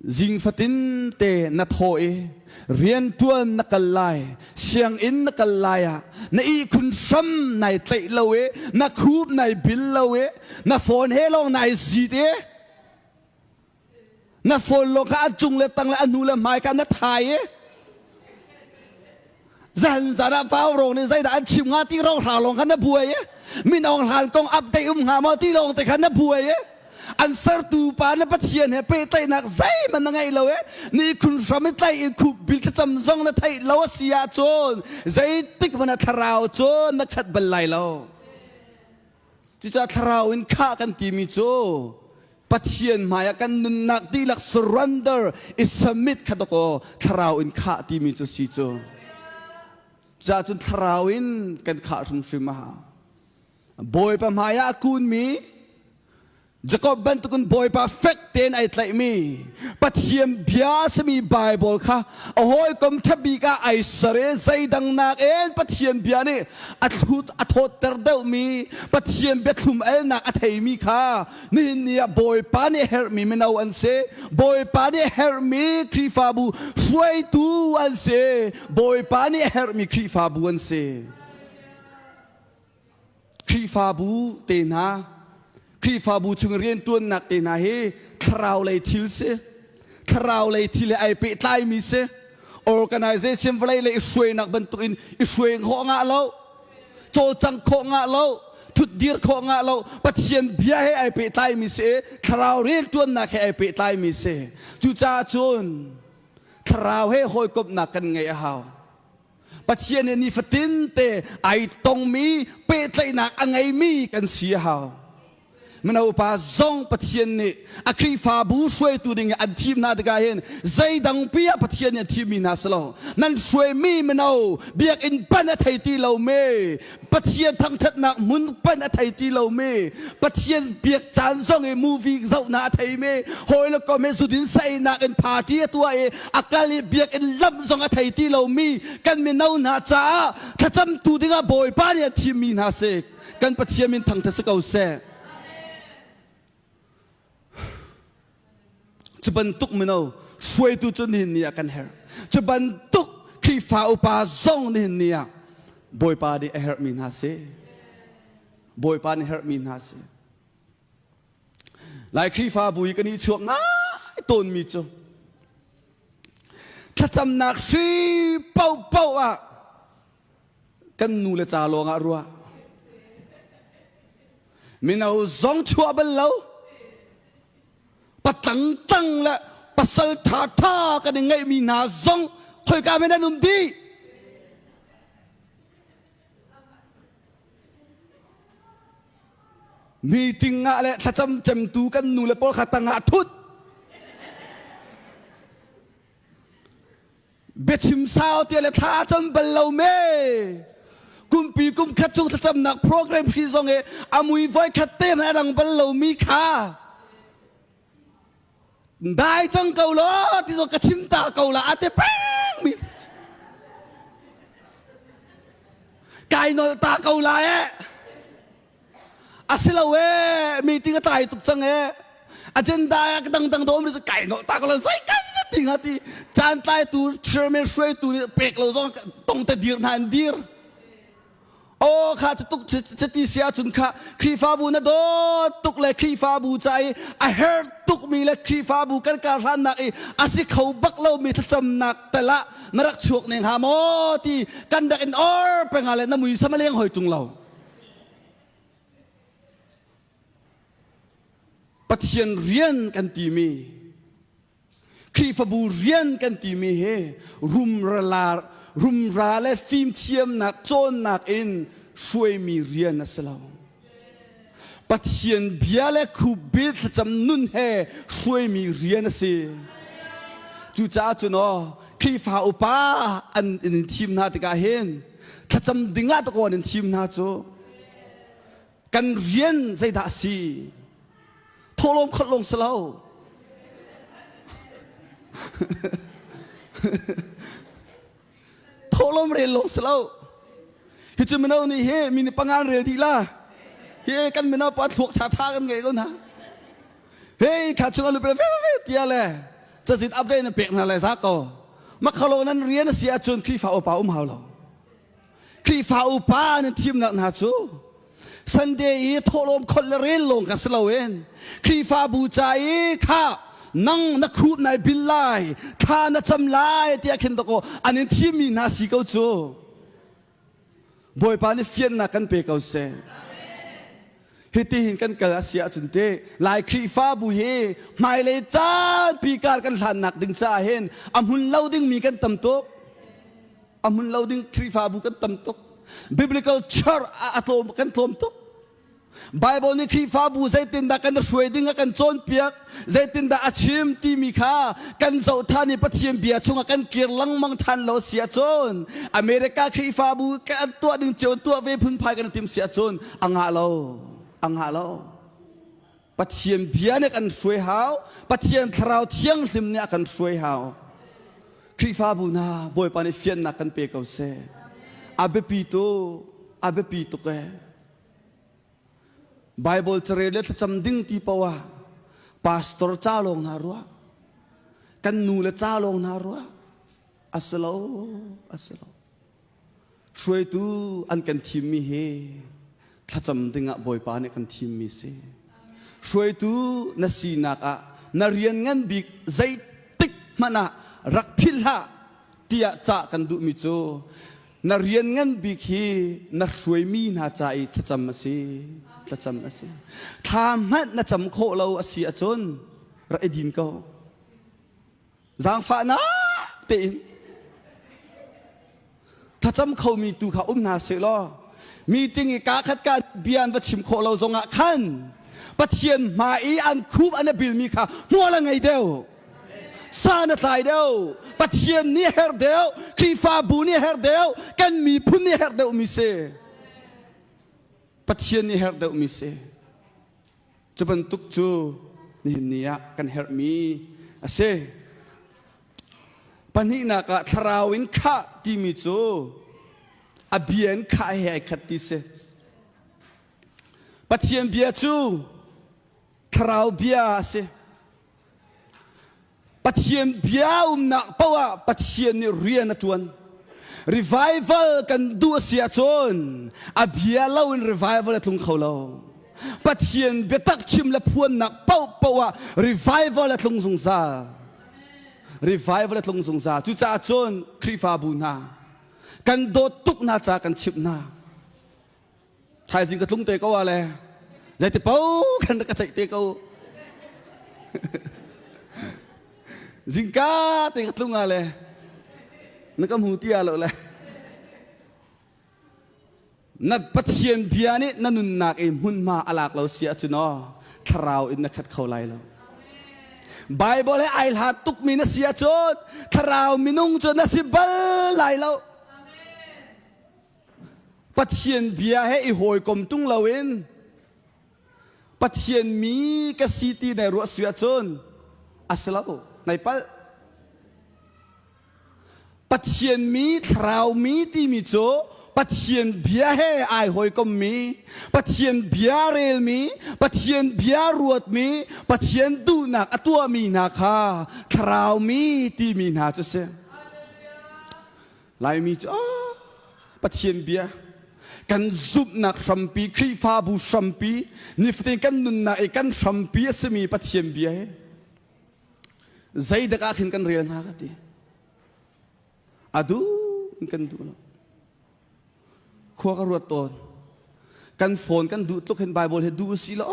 Zing fatin te na thaw i rian ṭuan na kal lai sianginn na kal lai ah na ihkhun hram nai tlaih lo i na khup nai bil lo i na phone he lawng nai zit i na phone lawng kha a cung le tang le a hnu le hmai kha na thai i zan zan ah fau ro nih zeidah an chim nga ti ro hra lawng khan na buai min ong hlan kong update um nga maw ti lawng te khan na buai an sertu pa na pathian he pehtlaihnak zeihman na ngei lo e ni khun hram in tlai in khup bil thlacam zong na theih lo a si ah cun zeitik mana thlarau cun na khat bal lai lo Cucah thlarau in khah kan timi cu Pathian hmaiah kan nunnak dihlak surrender i submit kha dakaw thlarau in khah timi cu si cu. Cucah cun thlarau in kan khah hrimhrim a hau. Bawipa hmaiah a kunmi Jacob bantukin Bawipa fek tein ai tlaihmi Pathian bia sami Bible kha a hawikom ṭhabik ah ai ser i zeidang nakin Pathian bia nih a thlut a thawtter deuhmi Pathian biathlum elnak a theimi kha nihin ni ah Bawipa nih herhmi mino an si Bawipa nih herhmi Khrihfabu hruaitu an si Bawipa nih herhmi Khrihfabu an si Khrihfabu te hna, Khrihfabu chung rianṭuannak te hna hi thlarau lei thil si. Thlarau lei thil he ai pehtlaimi si. Organization vawlei le i hruainak bantukin i hruai khawh ngah lo. Cawcang khawh ngah lo. Thutdir khawh ngah lo. Pathian bia he ai pehtlaimi si. Thlarau rianṭuannak he ai pehtlaimi si. Cucaah cun thlarau he hawikomhnak kan ngei a hau. Pathian nih nifatin te ai tongmi pehtlaihnak a ngeimi kan si a hau. Mino upa zong Pathian nih a Khrihfabu hruaitu ding an thim hna tikah hin zeidangpi ah Pathian nih a thimmi hna si lo. Nan hruaimi mino biakinn pan a thei ti lomi Pathian thangthatnak hmun pan a thei ti lomi Pathian biak caan zong i movie zohnak a theimi hawile kom i zudin sainak in party a tuah i a kal i biakinn lam zong a thei ti lomi kan mino hna caah thlacamtu dingah Bawipa nih a thimmi hna si kan Pathian min thangthat si ko seh. Cu bantuk mino hruaitu cu nihin ni ah kan herh. Cu bantuk Khrihfa upa zong nihin ni ah Bawipa nih a herhmi hna si. Bawipa nih herhmi hna si. Lai Khrihfabu i kan i chuak ngai tawnmi cu thlacamnak hri paoh paoh ah kan nu le ca lawng ah ruah mino zong chuah bal lo patang tang le pasal tha tha kan i ngeihmi hna zong khoika men an um dih meeting ah le thlacam cemtu kan nu le pawl kha tangah thut biachim sau tia le thla cam bal lo me kumpi kum khat chung thlacamnak program hri zong e amui voi khat te na dang bal lo mi kha dai cang ko lo ti zo ka chim ta ko la ate peng mi kai nol ta ko la e a si lo ee meeting a tlai tuk cang ee agenda ah dangdang dawm ri kai no ta ko la sai kan ti nga ti chan tlai tu chairman hruaitu nih pek lo zong tong te dir na an dir o kha tuk chati sia chun kha khrifabu na do tuk le khrifabu cha i a her tuk mi le khrifabu kan ka hlan nak i asi kho bak lo mi thlacam nak tala na rak chuak ne ha mo ti kan dak in or penga le na mui sama leng hoi chung lo Pathian rian kan timi Khrihfabu rian kan timi hi rumra, rumra le fimthiamnak cawnnak in hruaimi rian a si lo. Pathian bia le khubbil thlacam nun he hruaimi rian a si. Cucaah cun, oh, Khrihfa upa an in thim hna tikah hin, thlacam ding ah takawn in thim hna cu kan rian zeidah a si thawlawm kholh lawng si lo thawlawm rel lawng si lo hi cu mino nih hi mi ni pangan rel dih la hi kan mino pa thluak tha tha kan ngei ko na hei kha chung an lupe ve tiah le cazin upgrade nan pek hna le za ko makhalo nan rian a si ahcun Khrihfa upa um hau lo Khrihfa upa nan thimnak hna cu Sunday i thawhlawm khol le rel lawng ka si loin Khrihfa bu ca i kha nang na khuh nai bil lai thla na cam lai tiah khin dako an in thimmi hna si ko cu Bawipa nih fiannak kan pe ko seh. Hiti hin kan kal a si ahcun te Lai Khrihfabu hi hmailei caalpi kar kan hlannak ding caah hin a hmun lo dingmi kan tam tuk. A hmun lo ding Khrihfabu kan tam tuk. Biblical church ah a tlawm kan tlawm tuk. Baibal nih Khrihfabu zeitindah kan i hruai ding a kan cawnpiak, zeitindah a chim timi kha kan zoh ṭhan i Pathian bia chungah kan kir lengmang ṭhan lo si ahcun America Khrihfabu kan tuah ding cio tuah ve phunphai kan i tim si ahcun a ngah lo. A ngah lo. Pathian bia nih a kan hruai hau. Pathian thlarau thianghlim nih a kan hruai hau. Khrihfabu hna Bawipa nih fiannak kan pe ko seh. A biapitu, a biapi tuk e. Bible carel le thlacam ding ti poah pastor ca lawng hna ruah. Kan nu le ca lawng hna ruah. A si lo, a si lo. Hruaitu an kan thimmi hi thlacam dingah Bawipa nih kan thimmi si. Hruaitu na sinak ah na rian ngan bik zeitik hmanh ah rak philh hlah tiah cah kan duhmi cu na rian ngan bik hi na hruaimi hna ca i thlacam a si. Thlacam a si. Thla hmanh na cam khawh lo a si ahcun rak i din ko. zaangfahnak tein thlacam khomi tu kha um hna seh law meeting i kaa khat ka bia an va chim khawh lo zongah khan pathian hma i an khup an a bilmi kha hmual a ngei deuh san a tlai deuh pathian nih a herh deuh khrihfabu nih a herh deuh kan miphun nih a herh deuhmi si pathian nih a herh deuhmi si Cu bantuk cu nihin ni ah kan herhmi a si. Pahnihnak ah thlarau in khah timi cu a bia in khah he ai khat ti si. Pathian bia cu thlarau bia a si. Pathian bia umnak paoh ah Pathian nih rian a ṭuan. Revival kan duh a si ahcun a bia loin revival a tlung kho lo. Pathian biatak chim le phuannak paohpaoh ah revival a tlung zungzal. Revival a tlung zungzal. Cucaah cun Khrihfabu hna, kan dawt tuk hna ca kan chimh hna. thaizing ka tlung te ko a le zeiti po khan ka ceih te ko zingka te ka tlung a le na ka hmu ti a lo le na pathian bia nih na nunnak i hmunhma a lak lo sia cu no thlarau in na khat kho lai lo Bible he ai hlat tukmi na sia cun thlarau minung cu na si bal lai lo Pathian bia he i hawikom tung loin Pathian mi ka si ti nai ruah si ahcun a si lo nai palh. Pathian mi thlarau mi timi cu Pathian bia he ai hawikom mi, Pathian bia rel mi, Pathian bia ruat mi, Pathian duhnak a tuah mi hna kha thlarau mi timi hna cu si. Laimi cu ah, Pathian bia kan zumhnak hrampi Khrihfabu hrampi nifatin kan nunnak i kan hrampi a simi Pathian bia hi zeidak ah khin kan rel hna ka ti a duh in kan duh lo khua ka ruat tawn kan phone kan duh tluk hin bible he duh si lo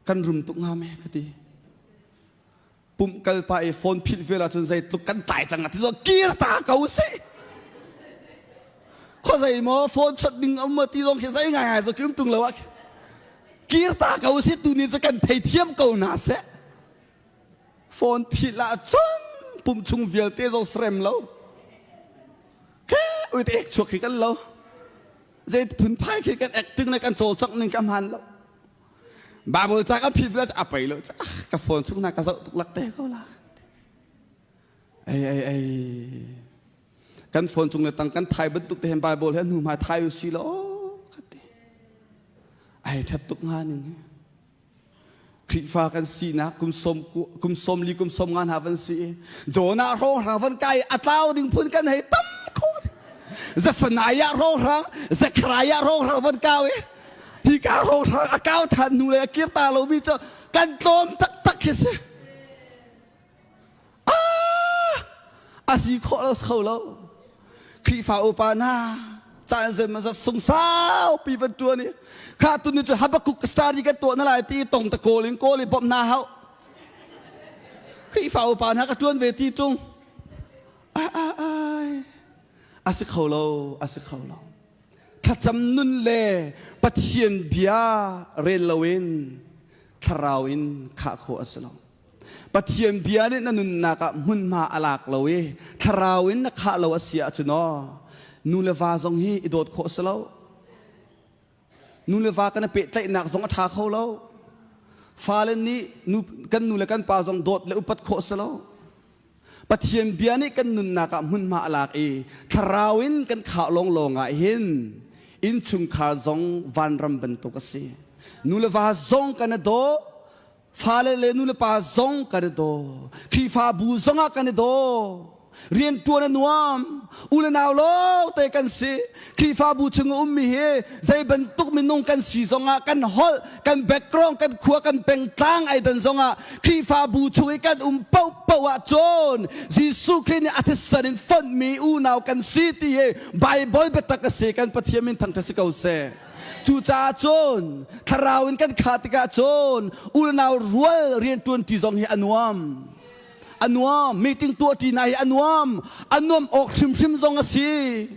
kan rum tuk nga me ka ti pumh kal pa i phone philh vial ahcun zeitluk kan tlai cang a ti zo kir ta ko si kho zei maw phone chot ding a um ti zong khi zei ngai ngai zo kim tung lo ah kir ta ko si tu ni cu kan thei thiam ko na se phone philh ah cun pum chung vialte zo srem lo ke ui te ek chuak khi kan lo zei phun phai khi kan acting le kan chaw chak ning kam han lo Bible ca kan phit la a pei lo ka phone chung na ka zoh tuk lak te ko la ai ai ai kan phone chung le tang kan thai bantuk te hen bible he nu ma thai u si lo ka ti ai thap tuk nga ning Khrifa kan si na kum som kum som li kum som ngan ha van si jona ro ra van kai atlau ding phun kan hei tam khu zafanaya ro ra zakraya ro ra van kawe Hika rohrang a kau ṭhan hnu lei a kir ta lomi cu kan tlawm taktak khi si. Ah! A si khawh lo kho lo. Khrihfa upa hna, caan zeimazat sung saupi van ṭuan i kha tu ni cu Habakkuk story kan tuah na lai ti tong ta kawl in kawl i bawmh na hau. Khrihfa upa hna ka ṭuan ve ti ṭung. A a ai. A si kho lo, a si kho lo. thlacam nun le pathian bia rel loin thlarau in khah khawh a si lo pathian bia nih na nunnak ah hmunhma a lak lo i thlarau in na khah lo a si ahcun o nu le va zong hi i dawt khawh a si lo nu le va kan i pehtlaihnak zong a ṭha kho lo fale nih nu, kan nu le kan pa zong dawt le upat khawh a si lo Pathian bia nih kan nunnak ah hmunhma a lak i thlarau in kan khah lawng lawng ah hin innchungkhar zong vanram bantuk a si. Nu le va zong kan i daw, fale le nu le pa zong kan i daw, Khrihfabu zong ah kan i daw, rianṭuan a nuam, u le nau lo te kan si, Khrihfabu chung a ummi hi zei bantuk minung kan si zongah kan holh, kan background, kan khua, kan pengtlang ai dan zongah Khrihfabu chung i kan um paohpaoh ah cun Jesuh Khrih nih a thisen in fonhmi unau kan si ti hi Bible biatak a si kan Pathian min thangṭhat si ko seh. Cucaah cun thlarau in kan kha tikah cun unau rual rianṭuanṭi zong hi a nuam. a nuam meeting tuahṭi hna hi a nuam a nuam awk hrimhrim zong a si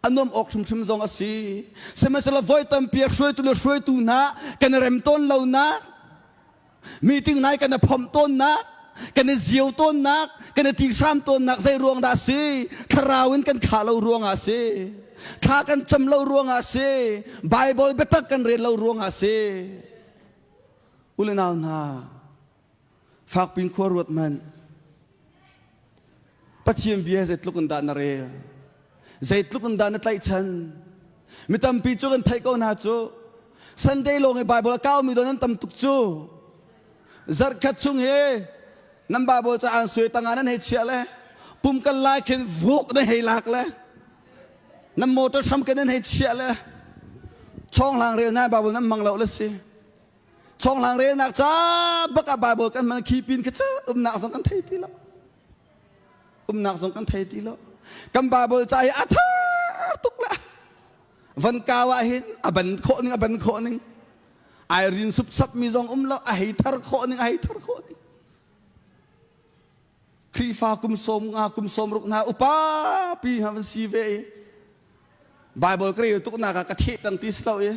a nuam awk hrimhrim zong a si sihmanhsehlaw voi tampi a hruaitu le hruaitu hna kan i rem tawn lonak meeting nai kan i phomh tawnnak kan i zio tawnnak kan i ti hram tawnnak zei ruang dah a si thlarau in kan kha lo ruangah a si thla kan cam lo ruangah a si bible biatak kan rel lo ruangah a si u le nau hna Fakpin khua ruat man. Pathian bia zeitluk in dah na rel? Zeitluk in dah na tlaihchan? Mi tampi cu kan theih ko hna cu Sunday lawng i Bible a kaumi don an tam tuk cu zarhkhat chung hi nan Bible caah suai tanga nan hei chiah le pum kal lai khin vuk na hei lak le nan motor hram kan nan hei chiah le chonghlang rel na Bible nan mang lo le si Chonghlang relnak ca bak ah Bible kan man khi pin kha cu umnak zong kan thei ti lo. Umnak zong kan thei ti lo. Kan Bible ca hi a tha tuk le van kau ah hin a ban khawh ning a ban khawh ning ai rin sup sap mi zong um lo a hei thar khawh ning a hei thar khawh ning Khrihfa kum sawm nga kum sawmruk hna upa pi ha van si ve i Bible ka rel tuk nak ah ka theh tang ti si lo i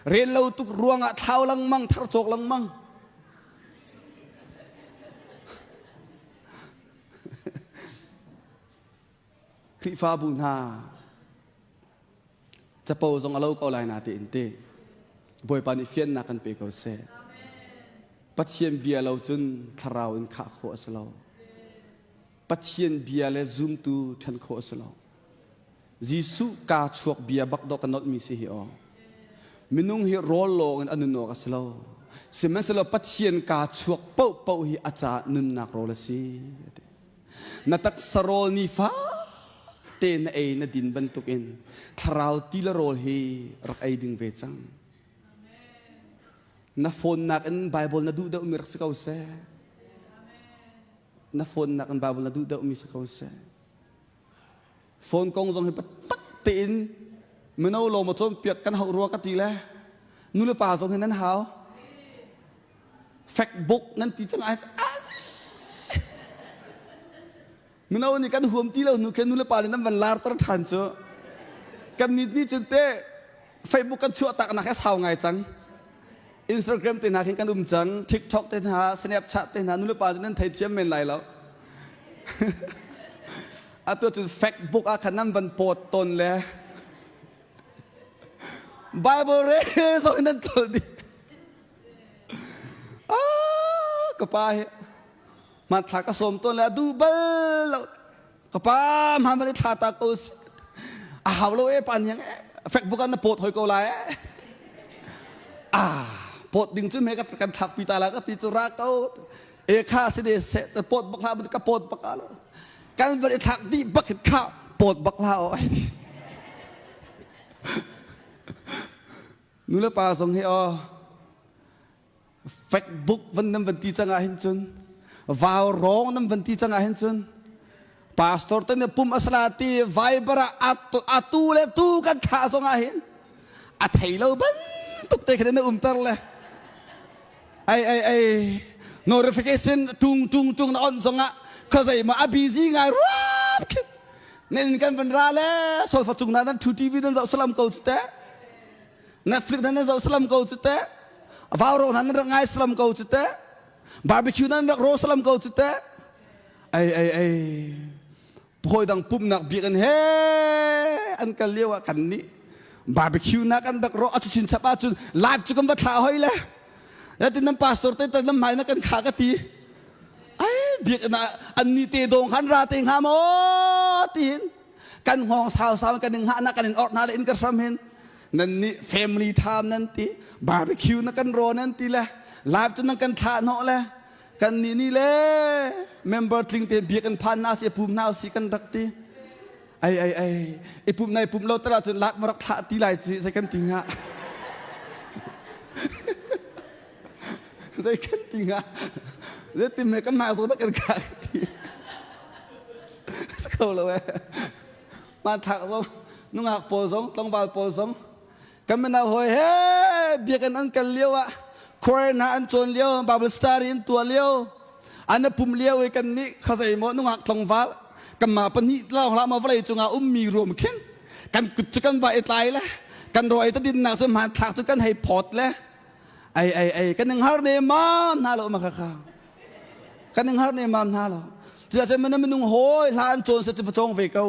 rel lo tuk ruang ah thlau lengmang thar cawk lengmang Khrihfabu hna capo zong a lo ko lai na tein te Bawipa nih fiannak kan pe ko seh. Pathian bia lo cun thlarau in khah khawh a si lo. Pathian bia le zumtu ṭhen khawh a si lo. Jesuh kaa chuak bia bak dawk ka nolhmi si hi aw. Minung hi rawl lawng in a nun awk a si lo. Sihmanhsehlaw Pathian kaa chuak paoh paoh hi a caah nunnak rawl a si. A ti. Na taksa rawl nifate na ei na din bantukin thlarau ti le rawl hi rak ei ding ve cang. Na phone nakin Bible na duh deuhmi rak si ko seh. Na phone nakin Bible na duh deuhmi si ko seh. phone kong zong hi biatak tein mino lo ma cawnpiak kan hau rua ka ti le nule pa zong hi nan hau fact book nan ti cang ai mino nih kan huam ti lo hnu khin nule pa nih nan van lar tar than cu kan nit ni cun te Facebook kan chuahtaknak hi sau ngai cang. Instagram te hna khin kan um cang. TikTok te hna, Snapchat te hna, nulepa cu nan thei thiam men lai lo. atu cun Facebook ah khan nan van pawt ton le Bible re zo nan tlol di. Ah, ka pa hi hmanthlak ka sawm ton le a du bal lo. ka pa hman van i thla ta ko a hau lo e pan hiang e facebook an na pawt hoi ko lai e a pawt ding cu me kan thlak pi ta la ka ti cu ra ko e kha si ne se ta pawt bak la mun ka pawt bak lo kan van i thlak di bak hin kha pawt bak la o ai nu le pa song hi o Facebook van nan van ti cang ah hin cun vaurong nan van ti cang ah hin cun pastor te nih pum asala ti viber ah atu, atu le tu kan thlah zong ah hin a thei lo bantuk te khane na umter le ai ai ai notification tung tung tung na on zong ah kha zei ma a busy ngai rap khin nen kan van ra le sol fa chung na nan thu tv nan zau salam ko te na thik nan zo salam ko cu te vauro nan rak ngai salam ko cu te barbecue nan rak ro salam ko cu te ai ai ai phawi dang pumnak biak an he an kal lio ah kan nih barbecue nak an rak ro acu chin chap ahcun live cu kan va thla hoi le yatin nan pastor te tan lam mai na kan kha ka ti ai biak na an ni te dong khan ra te nga mo tin kan hngawng sausau kan in hngahnak kan in orh hna le in ka hram hin nan nih family time nan ti barbecue na kan raw nan ti le live cu nan kan thlah hnawh le kan nih ni le member tling te bia kan phan na si pum na si kan rak ti ai ai ai i pum nai pum lo tala cun lak marak thlah ti lai ci sai kan ti nga zei kan ti nga zei ti me kan ma zo ba kan ka ti ko lo e ma thak zo nungak pawl zong tlangval pawl zong kan mena hoi he biakan an kal lio ah quarantine ha an cawn lio bible study in tua lio an pum lio e kan ni khazai mo nungak tlangval kan ma pani la hla ma vlei chunga um mi rom khin kan kut chu kan vai tlai le kan roi ta din nak chu ma thak chu kan hei phot le ai ai ai kan ing har ne mam hna lo ma kha kha kan ing har ne mam hna lo cuah cun mana minung hawi hla an cawn sa cu facong ve ko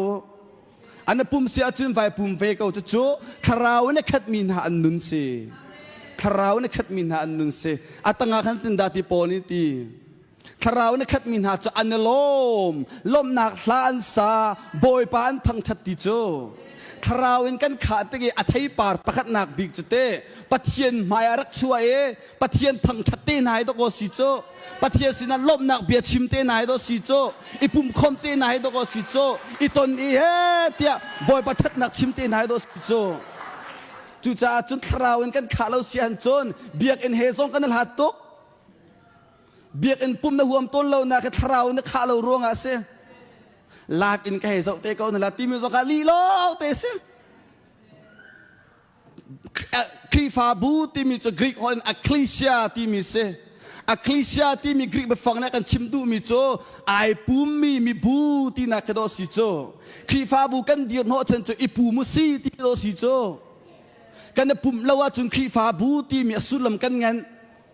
an pum si ahcun vai pum ve ko cucu thlarau in a khatmi hna an nun si thlarau in a khatmi hna an nun si a tangah khan tin da ti pawl nih ti Thlarau na khatmi hna cu an i lawm. Lawmhnak hla an sa. Bawipa an thangṭhat ti cu thlarau in kan khah tik i a theipar pakhatnak bik cu te Pathian hmai ah rak chuah i Pathian thangṭhat te hna hi dok aw si cu Pathian sinah lawmhnak bia chim te hna hi dok si cu i pumkhom te hna hi dok aw si cu i ton i he tiah Bawipa thatnak chim te hna hi dok si cu cucaah cun thlarau in kan khah lo sian cun biakinn he zong kan i hlat tuk Biakinn pum na huam tawn lonak hi thlarau in na khah lo ruangah a si. Lak in ka hei zoh te ko na la timi zong ah lih lo te si. Khrihfabu timi cu Greek holh in ecclesia timi si. Ecclesia timi Greek biafang nih kan chim duhmi cu ai pummi mibu tinak khi daw si cu. Khrihfabu kan dir hnawh chan cu i pum u si ti daw si cu. Kan i pumh lo ahcun Khrihfabu timi a sullam kan ngenh.